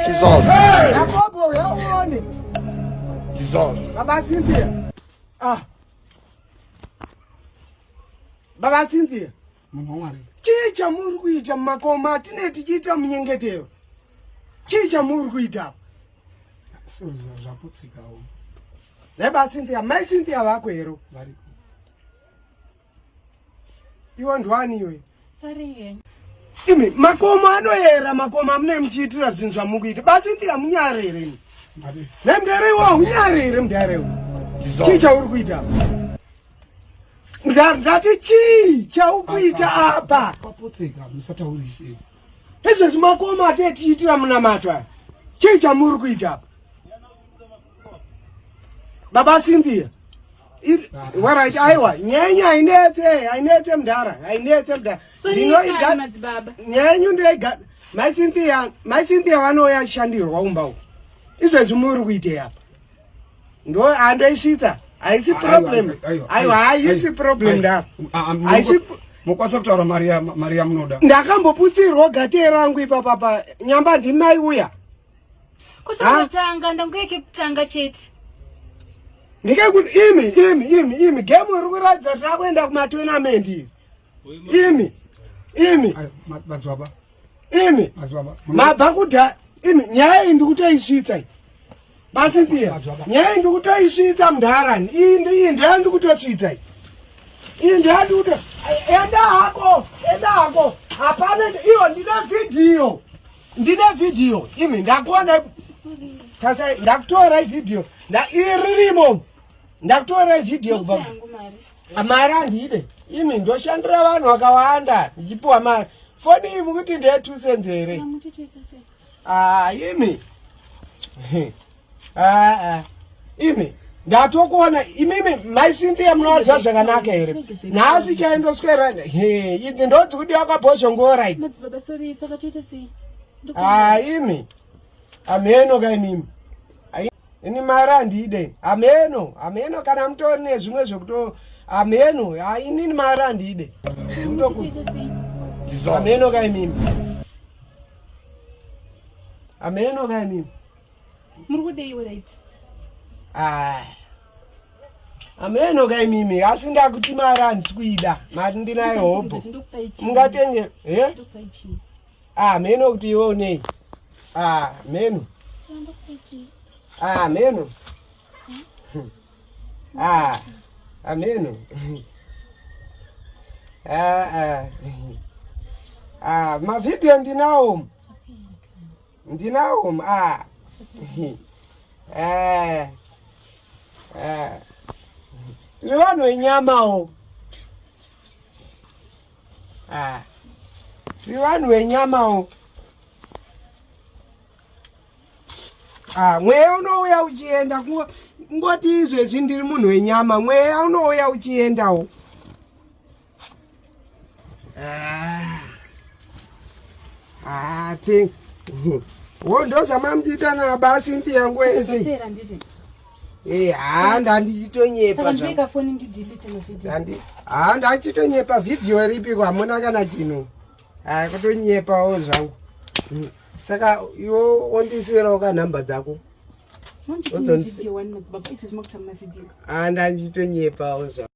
Jesus. Yakobo uya uone. Jesus. Baba Cynthia. Ah. Baba Cynthia. Munhu wamwari. Chii chamuri kuita mumakoma atine tichiita munyengetero? Chii chamuri kuita? Zvaputsikawo. Baba Cynthia, mai Cynthia vako hero. Variko. iwe ndwani iwe imi makomo anoyera makomo amune muchiitira zvinhu zvamukuita basi ndi hamunyare here ni nemdare iwo haunyare here mdare iwo chii chauri kuita ndati chii chaukuita apa izvezvi makomo atetiitira munamato aya chii chamuri kuita apa baba Cynthia warit aiwa nyaya yenyu hainetse hainetse mdhara hainetse mdhara ndinoiga nyaya yenyu ndoiga mai Cynthia mai Cynthia vanouya shandirwa umba uko izvezvi muri kuitei apa ndo andoisvitsa haisi problem aiwa haisi problem ndaro haisi mokwanisa kutaura mari yamunoda ndakamboputsirwa gate rangu ipapapa nyamba ndimai uya kutanga ndanguya kekutanga chete ndikekuti imi imi imi imi gemu iri kuratidza kuti rakuenda kumatournament iri imi imi imi mabva kuda imi nyaya iyi ndikutoisvitsa iyi basipia nyaya iyi ndikutoisvitsa mudharani iyi iyi ndaya ndikutosvitsa iyi iyi ndaya ndikuto enda hako enda hako hapana iwo ndine vhidhiyo ndine video imi ndakuona tasai ndakutora ivideo iririmo ndakutora ivideo kubva mari andide imi ndoshandira vanhu vakawanda ndichipiwa mari foni iyi mukuti ndeye two cents here ah, imi aa imi ndatokuona imimi mai cynthia munovaziva zvakanaka here nhasi chaindoswera he idzi ndodzi kudiwa kwabhozhongora idzi aa imi amheno ka imimi ini mari handiide amheno amheno kana mutori nezvimwe zvekuto amheno inini mari handiide amheno ka imimi amheno ka imimi muri kudei weraid ah. ameno ka imimi asi ndakuti mari handisi kuida mari ndinayo hobho mungatenge he ah, meno kuti iwe unei ah, meno meno ameno mavhidhiyo ndinawo ndinawo ma ah. eh. eh. tiri vanhu venyamawo ah. tiri vanhu venyamawo ah, mweya unouya uchienda kungoti izvezvi ndiri munhu wenyama mweya unouya uchiendawo Ah. Ah, things. Wo ndozvamamdiita na basi ndi yangu ese. Eh, ha ndandichitonyepa zvangu. Ha ndachitonyepa video ripi kwamuna kana chino. Ha kutonyepawo zvangu. Hmm. Saka iwo ondisirawo ka number dzako. Ozondisi. Ha ndandichitonyepawo zvangu.